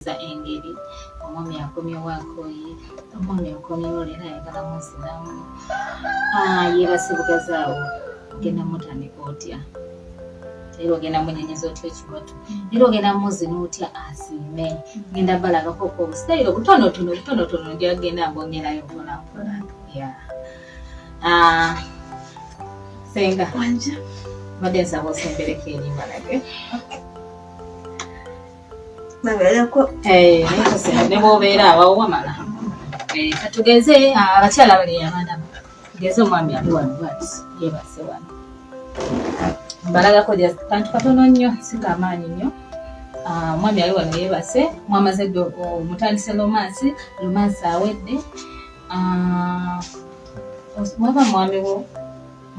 okuwuliriza engeri omwami akomyewo akoye omwami akomyewo leero ayagala muzinamu ah, yebasibugazaawo ogenda mutandika otya era ogenda munyenyeza otya ekibatu era ogenda muzina otya asiime genda balagako ko obusitayiro obutonotono obutonotono ndyagenda mbongerayo mpolampola ah, senga mbadde nsaba osembereko erimbalage babeereko eh, ne bwobeera awawo wamala eh, katugeze ah, abakyala bali abaana tugeze omwami ali wano bwati yebase wano mbalagako kantu katono nnyo singa amaanyi nnyo ah, omwami ali wano yebase mwamaze dde omutandise lomansi lomansi awedde ah, waba mwami wo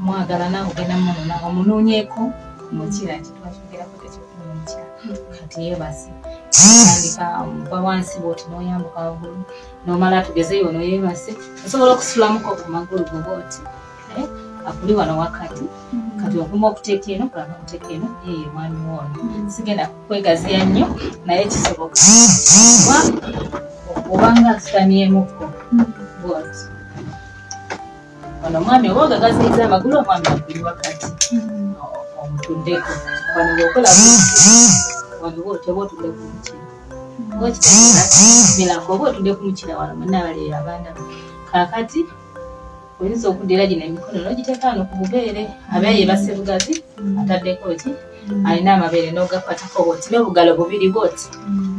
mwagala nawe ogenda munona omunonyeko mukira nti twakyogerako tekyokumukira kati yebase tandika omuva wansi bwoti noyambuka wagulu nomala tugezeyo ono yebase osobola okusulamuko kumagulu goba oti eh, akuli wano wakati kati okuma okuteeka eno kulaba okuteeka eno eye mwami woono sigenda kukwegaziya nnyo naye kisoboka obanga asitamyemuko bwoti Ono mwami oba ogagaziyiza amagulu omwami akuli wakati omutuddeko wano bwokola waliwo otyaba otudde ku mukira okitegeerabilako oba otudde ku mukira wano munabaleero abaana kakati oyinza okuddira gino emikono nogiteeka wano ku bubeere abeera yebase bugazi ataddeko ki alina amabeere nogakwatako bwoti nobugalo bubiri bwoti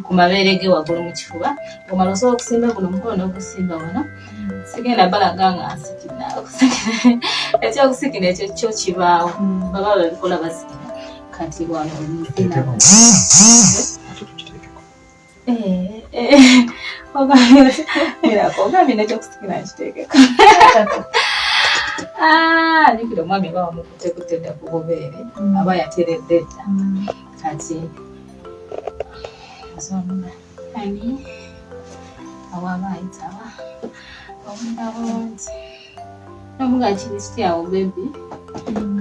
ku mabeere ge wagulu mu kifuba omala osobola okusimba guno omukono nogusimba wano sigenda balaga nga nsikina ekyokusikina ekyo kyo kibaawo mm. baba babikola basikina kati wano omuzina eh, eh, ogambye nekyokusikina nkiteekeko ah, jukira omwami aba wamukutekutte dda ku bubeere mm. aba yateredde dda mm. kati ani awaba ayitawa obudde bulungi nomugaa kirisiti awo bebi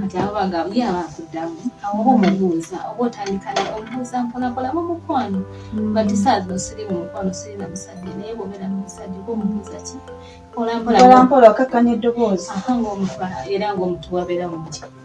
kati abo bagabo ye aba akuddamu awoba omubuuza oba otandika naye omubuuza mponapola mu mukwano bati saa zino siri mu mukwano siri na musajja naye bwobeera mu musajja oba omubuuza ki mpolampola okakkanya eddoboozi era ngaomutuwa beera mumukyalo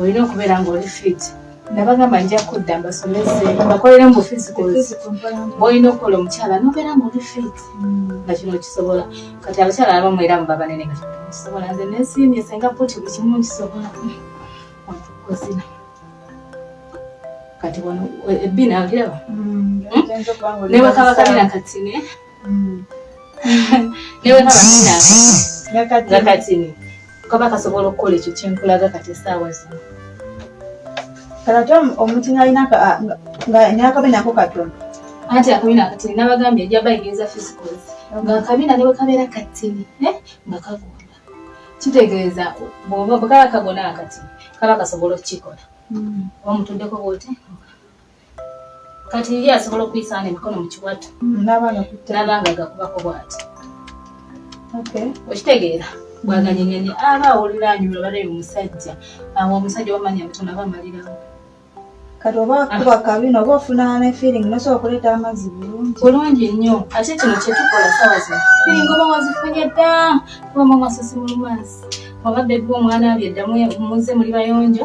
olina okubeera ng'oli fit nabagamba nja kudda mbasomese bakolere mu bufizi kozi bwolina okukola omukyala nobeera ng'oli fit mm. nga kino kisobola kati abakyala abamu era muba banene nga kisobola nze nesiimye senga puti buli kimu nkisobola kozina kati wano ebbina eh, okiraba mm, hmm? nebakabakabina katine nakatini kaba kasobola okukola ekyo kyenkulaga kati esaawa zino kalate omuntu nalina nakabina ako katono anti akabina akatini nabagambye ejaba egeza fisikozi nga akabina ne bwekabeera katini eh, nga kagonda kitegeeza bwekaba kagona akatini kaba kasobola okukikola hmm. omutuddeko bwoti kati ye asobola okuyisaana emikono mu kiwato nabanga gakubako bwati okitegeera bwaganyenyeni aba awulira anyuma balayo omusajja awo omusajja wamanya butono aba amalirawo kati oba akuba kabi noba ofuna ne feeling nosobola okuleeta amazzi bulungi bulungi nnyo ate kino kyetukola sawa zino feeling oba wazifunye dda kuba mwamasasi mulumansi oba bebi omwana abye ddamu muze muli bayonjo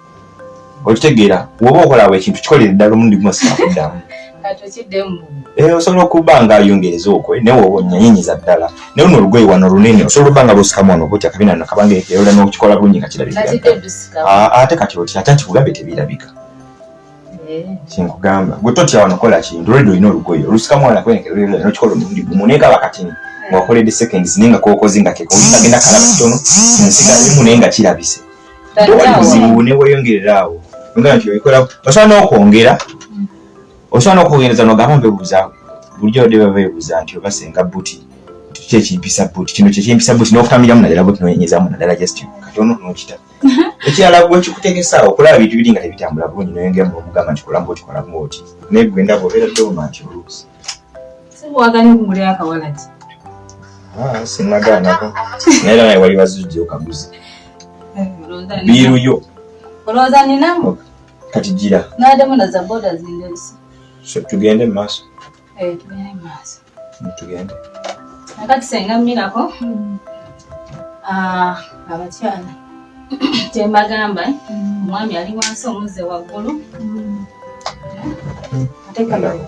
okitegeera woba okolawo ekintu kikolere ddala omulundi gumu sikakuddamu eh, osobola okuba nga ayongereza okwe naye woba onyanyinyiza ddala naye luno olugoye wano olunene osobola okuba nga lwosikamu wano butya kabina no kabanga eyola nokikola bulungi nga kirabika ah, ate kati otya ate nti kugambye tebirabika eh. kinkugamba gwe totya wano kola kintu olwedde olina olugoye olusikamu wano kwenekeokikola omulundi gumu naye kaba katini wakoledde seconds naye nga kokoze nga kekagenda kalaba kitono nsigalemu naye nga kirabise obuzibu neweyongerera awo ogamba nti obikola osobola n'okwongera osobola n'okwongereza nogamba mbebuuza bulijjo badde baba bebuuza nti oba senga buti kiki ekimpisa buti kino kyekimpisa buti n'okutamiramu naddala buti noyenyezamu naddala just kati ono nokita ekirala gwe kikutegesa okulaba bintu biri nga tebitambula bulungi noyongeramu nomugamba nti kolamu buti kolamu oti naye gwe ndaba obeera toma nti oluusi sibuwaganya okumulira akawala ki ah, sinagaanako naye naye wali bazujja okaguzi eh, biiru yo olowooza ninamu oh, kati gira nademu na za boda zindebisa tugende mu maaso eh, tugende mu maaso mm, tugende nakati senga mmirako mm. ah, abakyala kyembagamba eh? mm. omwami ali wansi omuzze waggulu atekamayo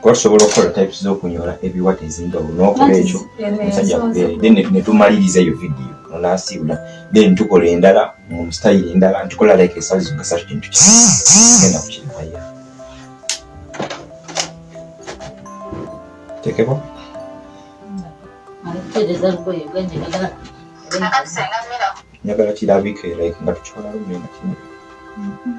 kuba tusobola okukola types z'okunyola ebiwata ezenjawulo n'okola ekyo omusajja akubeere then netumaliriza eyo vidiyo onasiibula then tukola endala mu style endala ntukola like esazi zokka satu kintu kigenda kukirivaya tekeko njagala kirabike like nga tukikola lumbe nga kino mm-hmm.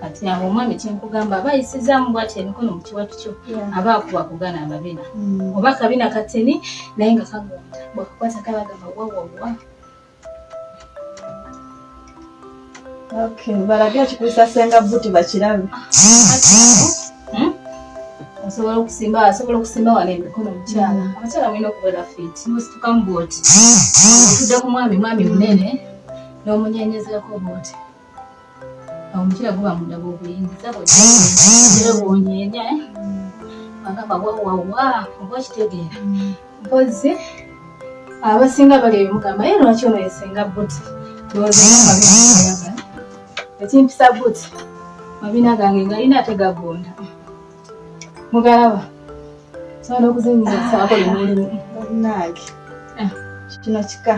kati awo omwami kyenkugamba aba ayisizaamu bwati emikono mu kiwatu kyo aba akuba kugana amabina mm. oba akabina kateni naye nga kagonda bwakakwata kabagamba wawawa Okay, balage ekikuusa senga buti bakirabe. Hmm? Asobola okusimba, asobola okusimba wano emikono mukyala. Abakyala mulina okubeera fit. Musituka mu booti. Otudde ku mwami, mwami munene n'omunyenyezerako booti. Awo omukyala guba munda gw'obuyingiza bwonyeenya. Agamba wawawa, oba okitegeera. Mpozzi abasinga bali ebimugamba ye lwaki ono yesenga buti ekimpisa buti mabina gange ngalina ate gagonda mugalaba sobola okuzinyira saako limulimu nange eh. kino kika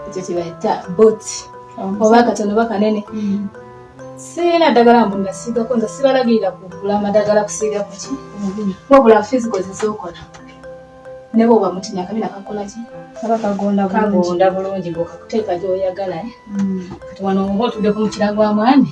ekyo kibayita boti oba akatono oba kanene mm. sirina ddagala mbu ngasiigako nze sibalagirira kugula amadagala kusiiga kuki mm-hmm. wabula fisigo zezokola ne bwoba mutinya akabi nakakola ki kaba kagonda bulungi bwokakuteeka gyoyagala eh? mm. kati wano oba otuddeko mukira gwa mwami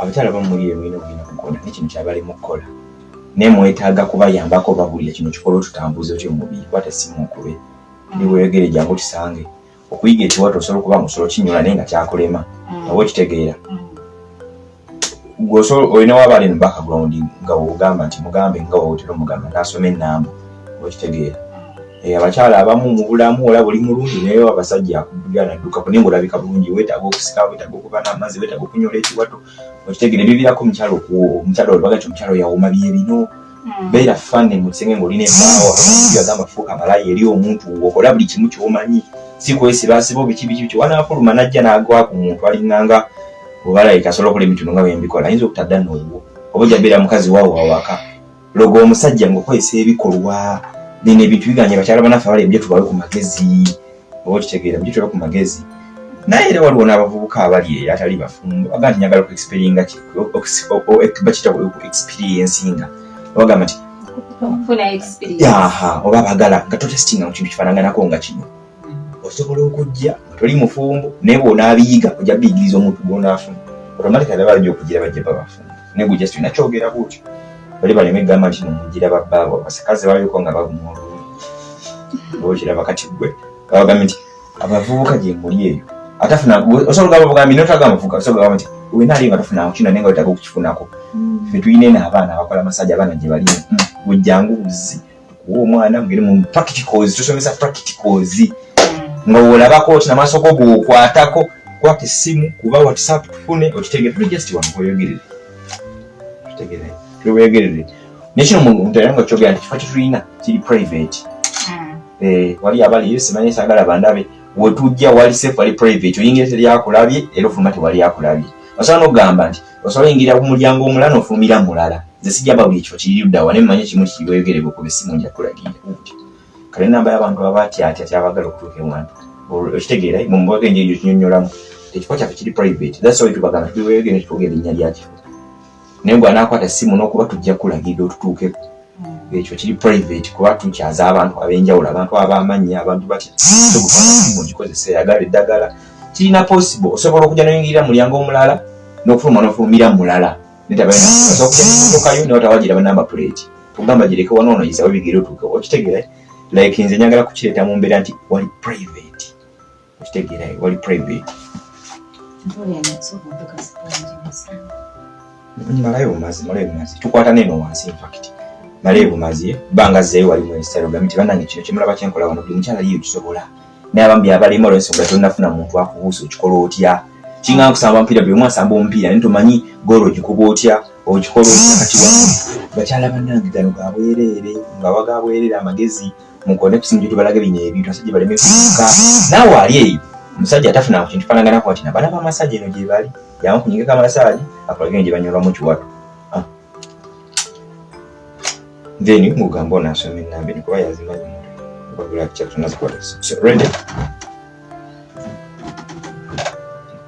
abakyala bamuli eyo mulina ogenda kukola nekino kyabali mukukola naye mwetaaga kubayambako babulira kino kikolo tutambuza otya omubiri kwata simu okube ndi weyogere jangu tusange okuyiga ekiwato osobola okuba musobola kinyula naye nga kyakulema mm. oba okitegeera mm. gwosobola olina waba ali no background nga wogamba nti mugambe nga wawotera omugamba nasoma enamba okitegeera eh, abakyala abamu mu bulamu olaba oli mulungi naye abasajja akubira nadduka kunaye ngaolabika bulungi wetaaga okusika wetaaga okuba n'amazzi wetaaga okunyola ekiwato okitegeera ebivirako omukyala omukyala olwaga nti omukyala oyawoma bye bino hmm. beera fane mu kisenge ng'olina embaawo agamba fuuka malayi eri omuntu okola buli kimu kyomanyi si kwesibasiba obiki biki biki wanaafuluma najja n'agwa ku muntu alinganga obalayika asobola okola emitino nga bembikola ayinza okutadda n'obwo oba ojja beera mukazi waawo awaka logo omusajja ngokozesa ebikolwa bino ebintu biganye bakyala banaffe abali ebijo tubawe ku magezi oba okitegeera bijo tubawe ku magezi naye era waliwo n'abavubuka abali eyo atali bafumbo aga nti nyagala okuexperienga bakita okuexperiensinga obagamba nti oba bagala nga totestinga mu kintu kifaananganako nga kino osobola okujja nga toli mufumbo naye bwonaabiyiga ojja biyigiriza omuntu gwonaafuna otomatika laba ajja okugira bajja babafumbo naye gwe just olina kyogera bwotyo bali baleme egamba nti nomugira babbaabo abasakazi baliko nga baguma olulungi okiraba kati gwe babagambe nti abavubuka gye muli eyo atafuna osobola ogamba bugambi notaga amavubuka osobola ogamba nti wena ali nga tofunako kino naye nga wetaga okukifunako mm. fe tulina eno abaana abakola masaji abaana gye bali mm. gwe jangu buzzi kuwa omwana mugere mu practicals tusomesa practicals nga olabako oti namaaso go gokwatako kwata essimu kuba whatsapp tufune otutegere tuli just wano weyogerere tutegere tuli weyogerere nekino muntu era nga kyogera nti kifo kyetulina kiri private hmm. eh, wali abali simanyi sagala bandabe wetujja wali safe wali private oyingira teri akulabye era ofuluma tewali akulabye osobola nokugamba nti osobola ingira ku mulyango omulala n'ofulumira mulala nze sijja bawulira ekifo kiri luddawa naye mumanye kimu kiki weyogereko kuba essimu nja kulagira kale namba y'abantu abatyatya kyabagala okutuuka ewantu okitegeera mumubaka enjeri gyo kinyonyolamu ekifo kyaffe kiri private that's why tubagamba tuli weyogere kitwogera erinnya lya kifo naye gwe anaakwata essimu n'okuba tujja kulagira otutuukeko hmm. ekyo kiri private kuba tukyaza abantu ab'enjawulo abantu ab'amannya abantu batya tugufana simu ngikozesa eyagala eddagala kirina possible osobola okuja noyingirira mulyango omulala nokufuluma nofulumira mulala netabaokujaokayo newatawagira banamba plate tugamba gireke wanono yisawo bigere otuuke okitegera like nze njagala kukireeta mu mbeera nti wali private okitegera wali private malayo bumazi malayo bumazi tukwata neno wansi infact malayo bumazi banga zeeyo wali mu instagram nti banange kino kyemulaba kyenkola wano buli mukyala yiyo kisobola naye abambi abalema olwensonga tonafuna muntu akubuusa okikola otya kinga nkusamba mupiira buli omu asamba omupiira naye tomanyi goolo ogikuba otya okikola otya kati wa bakyala bannange gano ga bwereere nga waga bwereere amagezi mukone kusimu gye tubalage bino ebintu asajja baleme kuka naawe ali eyo omusajja atafuna ku kintu fananganako nti nabana bamasaji eno gye bali yamukunyigeko amasaji akulage eno gye banyolwamu kiwato then ngugamba onasoma enamba eno kuba yazimanyi ready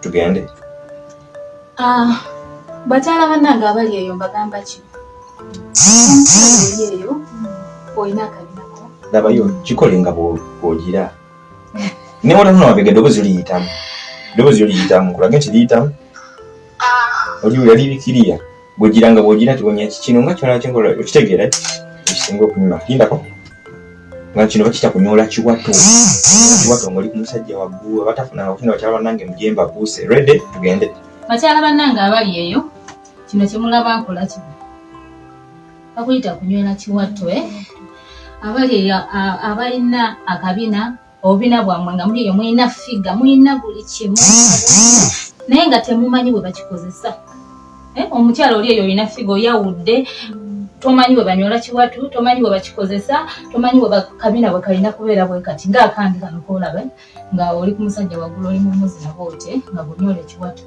tugende ah, bakyala banange abali eyo mbagamba ki eyo olina akabinako labayo kikole nga bwogira ne wotanona wabega eddoboozi oliyitamu eddoboozi oliyitamu kulage nti liyitamu ah. oli yali bikiriya bwegira nga bwogira tibonya ki kino nga kyona kyenkola okitegeera ekisinga okunyuma kindako nga kino bakita kunyola kiwato kiwato ngaoli kumusajja waggulu abatafunanga kukina bakyala banange mujemba buuse rede tugende bakyala banange abali eyo kino kyemulaba nkola kino bakuyita kunywera kiwato eh? abali eyo abalina akabina obubina bwammwe nga muli eyo mulina figa mulina buli kimu naye nga temumanyi bwe bakikozesa eh, omukyala oli eyo olina figa oyawudde tomanyi bwe banyola kiwatu tomanyi bwe bakikozesa tomanyi bwe bakabina bwe kalina kubeera bwe kati nga akandi kano koolabe nga oli ku musajja waggulu oli mumuzi naba otye nga bunyola ekiwatu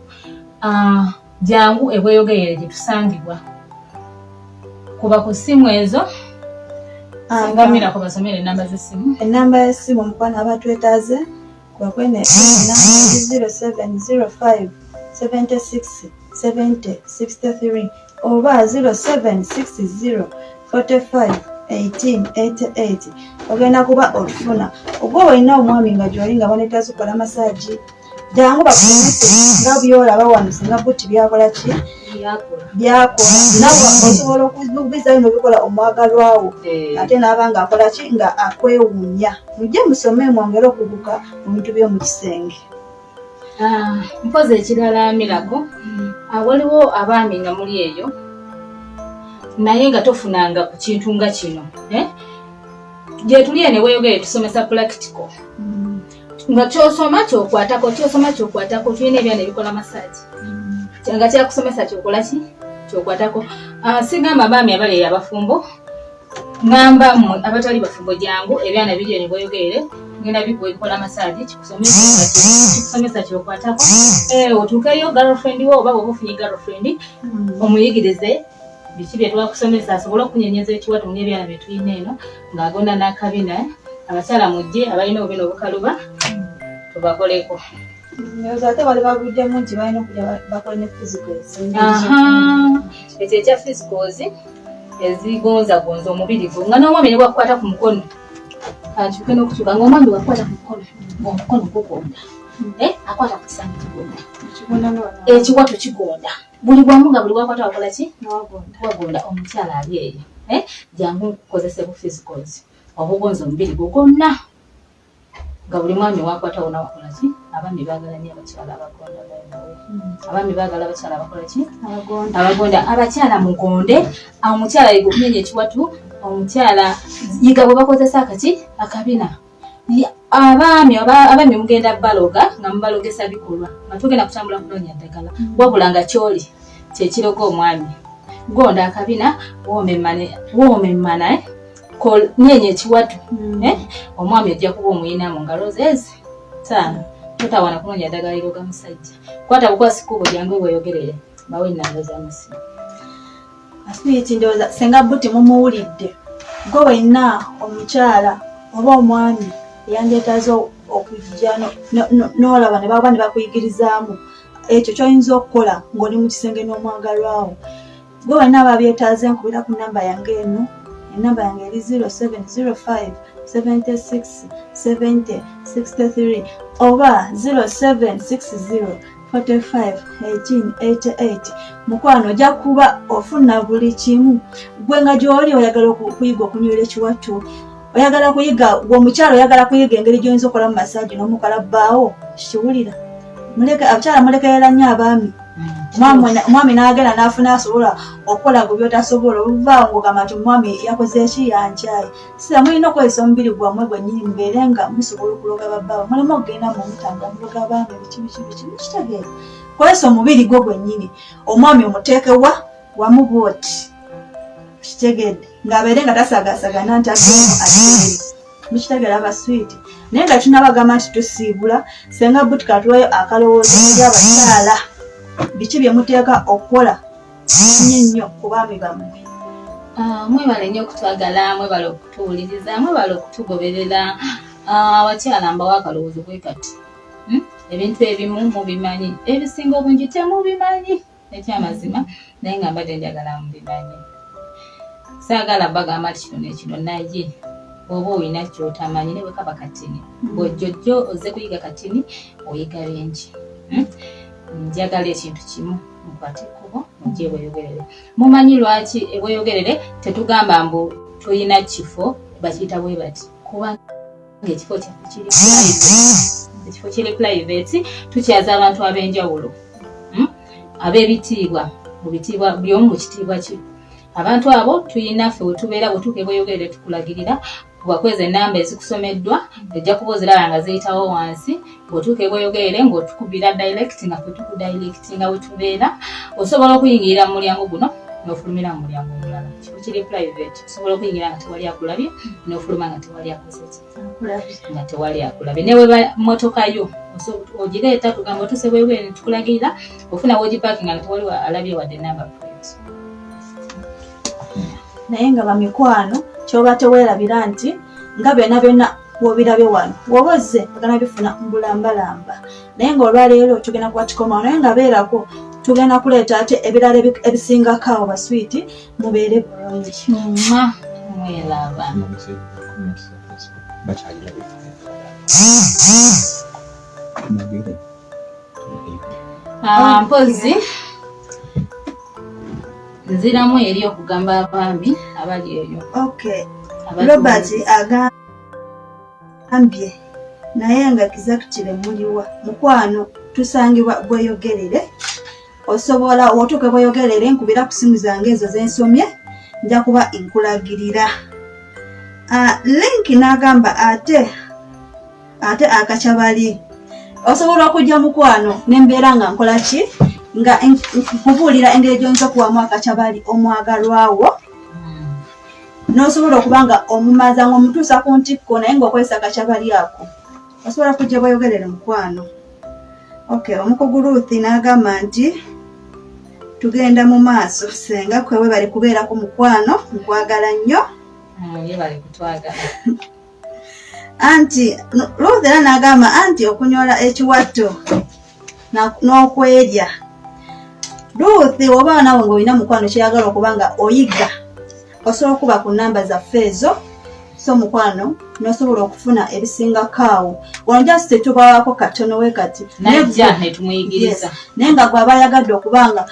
ah, Jangu e Bweyogerere gye tusangibwa. Kuba ku ssimu ezo singamira ku basomera ennamba z'essimu. Ennamba y'essimu omukwano aba twetaaze kwe kwene zero seven zero five seventy six seventy sixty three oba zero seven six zero forty five eighteen eighty eight ogenda kuba otufuna oba olina omwami nga gyoli nga banetazi kola masaji jangu bakulemese nga byolaba wano singa buti byakola ki byakola nawe osobola okubizayo nobikola omwagalwawo eh. ate naaba nga akola ki nga akwewunya mujje musome mwongere okubuka mu bintu byomu kisenge ah, mpozi ekirala mirago hmm. ah, waliwo abaami nga muli eyo naye nga tofunanga ku kintu nga kino eh? gyetuli ene weyogere tusomesa practical hmm. nga kyosoma kyokwatako kyosoma kyokwatako tulina ebyana ebikola masaji nga kyakusomesa kyokola ki kyokwatako ah, sigamba baami abali eyo abafumbo ngamba mwe abatali bafumbo jangu ebyana biri eyo bweyogerere ngenda bikola masaji kikusomesa kyokwatako eh, otuukeyo girlfriend wo oba oba ofunye girlfriend hmm. omuyigirize biki bye twakusomesa asobole okunyenyeza ekiwato ng'ebyana bye tulina eno ng'agona n'akabina abakyala mujje abalina obubina obukaluba tubakoleko ekyo ekya physicals ezigonzagonza omubiri gwo nga n'omwami ne bwakukwata ku mukono kankyuke n'okukyuka nga omwami wakukwata ku mukono omukono gugonda eh, akwata ku kisanyi kigonda ekiwato kigonda eh, buli bwamu nga buli wakwata wakola ki wagunda omukyala ali eyo eh? jangu nkukozese bu physicals obugonza omubiri gwo gwonna nga buli mwami wakwata wona wakola ki abaami bagala nyo abakyala abagonda hmm. abaami bagala abakyala abakola ki abagonda abakyala mugonde omukyala yiga okunenya ekiwatu omukyala yiga bwe bakozesa akaki akabina abaami abaami mugenda baloga nga mubalogesa bikolwa nga tugenda kutambula kunoonya ddagala mm. wabula nga kyoli kyekiroga omwami gonda akabina woomemmana eh? nyeenya ekiwatu mm. eh? omwami ojja kuba omuyina mu ngalo zezi taano totawana kunoonya ddagala liroga musajja kwata bukwasikuubo jangu weyogerere bawe enamba zamusimu aswiti ndowooza senga buti mumuwulidde gwe wenna omukyala oba omwami eyandyetaze okujja n'olaba ne baba ne bakuyigirizaamu ekyo kyoyinza okukola ng'oli mu kisenge n'omwagalwawo gwe wenna aba byetaaze nkubira ku namba yange eno enamba yange eri 0705 76 70 63 oba 0760 45:18 mukwano ojja kuba ofuna buli kimu gwe nga gyoli oyagala okuyiga okunywera ekiwattu oyagala kuyiga gwe omukyala oyagala kuyiga engeri gyoyinza okola mu masaji nomukala bbaawo kiwulira abakyala mulekerera nnyo abaami omwami nagenda nafuna asobola okukola gwe byotasobola oluvaawo ngogamba nti omwami yakoze eki yankyaye sira mulina okukozesa omubiri gwammwe gwennyini mubeere nga musobola okuloga babbawe mulimu okugenda mu mutambula muloga abaami biki biki biki mukitegeera kozesa omubiri gwo gwennyini omwami omuteeke wa wamu bwoti kitegedde ng'abeere nga tasagaasagana nti ateemu ateere mukitegeera abaswiiti naye nga tunabagamba nti tusiibula senga buti katuwayo akalowoozo eri abakyala biki bye muteeka okukola Musinye nnyo ku baami bammwe. Ah, mwebale nnyo okutwagala, mwebale okutuwuliriza, mwebale okutugoberera. Ah, abakyala mbawa akalowoozo bwe kati. Hmm? Ebintu ebimu mubimanyi, ebisinga obungi temubimanyi ekyamazima, naye nga mbadde njagala mubimanyi. Saagala bagamba nti kino nekino, naye bwoba olina kyotamanyi ne bwekaba katini hmm. bwojjojjo ozze kuyiga katini oyiga bingi hmm? njagala ekintu kimu mukwate ekkubo mujje e Bweyogerere. Mumanyi lwaki e Bweyogerere tetugamba mbu tulina kifo bakiyita bwe bati kuba ng'ekifo kyaffe kiri ekifo kiri pulayiveeti tukyaza abantu ab'enjawulo hmm? ab'ebitiibwa mu bitiibwa buli omu mu kitiibwa kye abantu abo tulina ffe wetubeera bwetuuka e Bweyogerere tukulagirira kuba kwezi ennamba ezikusomeddwa ojja kuba oziraba nga ziyitawo wansi bw'otuuka e Bweyogerere ng'otukubira direct nga ffe tukudirectinga we tubeera osobola okuyingirira mu mulyango guno n'ofulumira mu mulyango omulala kifo kiri private osobola okuyingira nga tewali akulabye n'ofuluma nga tewali akozeki nga tewali akulabye ne weba mmotoka yo ogireeta tugamba otuuse bwebwere ne tukulagirira ofuna wogipakinga nga tewali alabye wadde namba plate naye nga bamikwano kyoba tewerabira nti nga byona byona wobirabe wano woba ozze ogana bifuna mbulambalamba naye nga olwaleero tugenda kuba kikomawo naye nga beerako tugenda kuleeta ate ebirala ebisingako awo baswiiti mubeere bulungi bakyalira Ah, mpozzi nziramu eri okugamba abaami abali eyo robert agambye naye nga kizakitire muliwa mukwano tusangibwa bweyogerere osobola otuuke bweyogerere nkubira ku simu zange ezo zensomye nja kuba nkulagirira ah, link n'agamba ate ate akaca bali osobola okujja mukwano nembeera nga nkola ki nga nkubuulira engeri gyoyinza okuwamu akaca bali omwagalwawo nosobola okuba nga omumaza nga omutuusa ku ntikko naye ngaokozesa akaca bali ako osobola kujja bweyogerere mukwano ok omukugu ruthi n'agamba nti tugenda mu maaso senga kwewe bali kubeerako mukwano nkwagala nnyo ah, anti Ruth era n'agamba anti okunyola ekiwatto n'okwerya Ruth oba nawe ng'olina mukwano kyeyagala okuba nga oyigga osobola okuba ku namba zaffe ezo so mukwano nosobola okufuna ebisingakaawo wano just tetubawaako katono we kati naye nga gwe aba ayagadde okuba nga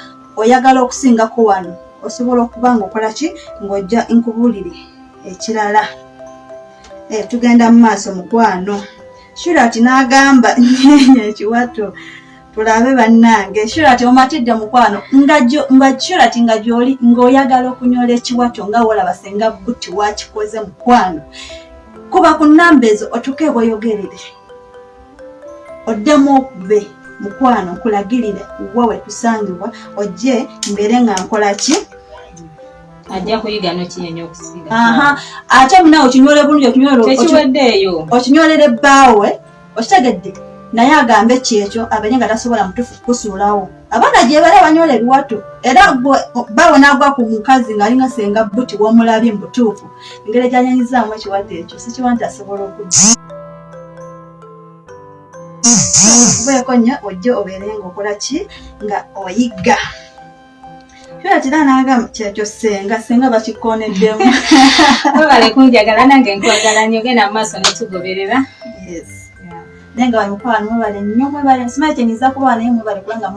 oyagala okusingako wano osobola okuba nga okola ki ng'ojja nkubulire ekirala eh, tugenda mu maaso mukwano shurat n'agamba nyenya ekiwato tulabe bannange shurat omatidde mukwano nga shurat nga gyoli ng'oyagala okunyola ekiwato nga wolaba senga buti wakikoze mukwano kuba ku namba ezo otuke ebweyogerere oddemu okube mukwano nkulagirire wa wetusangibwa ojje mbeere nga nkola ki ajja kuyiga nokinyenya okusiga ate munawe okinywole bulungi okinywoltekiweddeeyo okinywolere bbaawe okitegedde naye agambe kyekyo abenye nga tasobola mutufu kusuulawo abaana gyebali abanyola ebiwato era bawe nagwa ku mukazi ngaalinga senga buti womulabye mubutuufu engeri gyanyanyizaamu ekiwato ekyo sikiwa nti asobola okudda kubeeko nnyo ojje obeere nga okola ki nga oyigga Kyola kira n'agamba kyekyo ssenga ssenga bakikooneddemu. Webale kunjagala nange nkwagala nnyo genda mu maaso netugoberera. Yes. Naye nga bamukwano mwebale nnyo mwebale simanyi kyenyinza kuba naye mwebale kubanga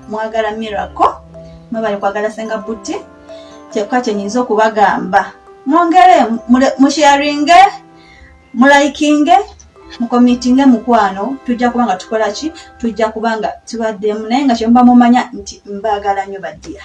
mwagala miracle mwebale kwagala ssenga buti kyokka kyenyinza okubagamba mwongere musharinge mulayikinge mukomitinge mukwano tujja kuba nga tukola ki tujja kuba nga tubaddemu naye nga kyemuba mumanya nti mbaagala nyo badiya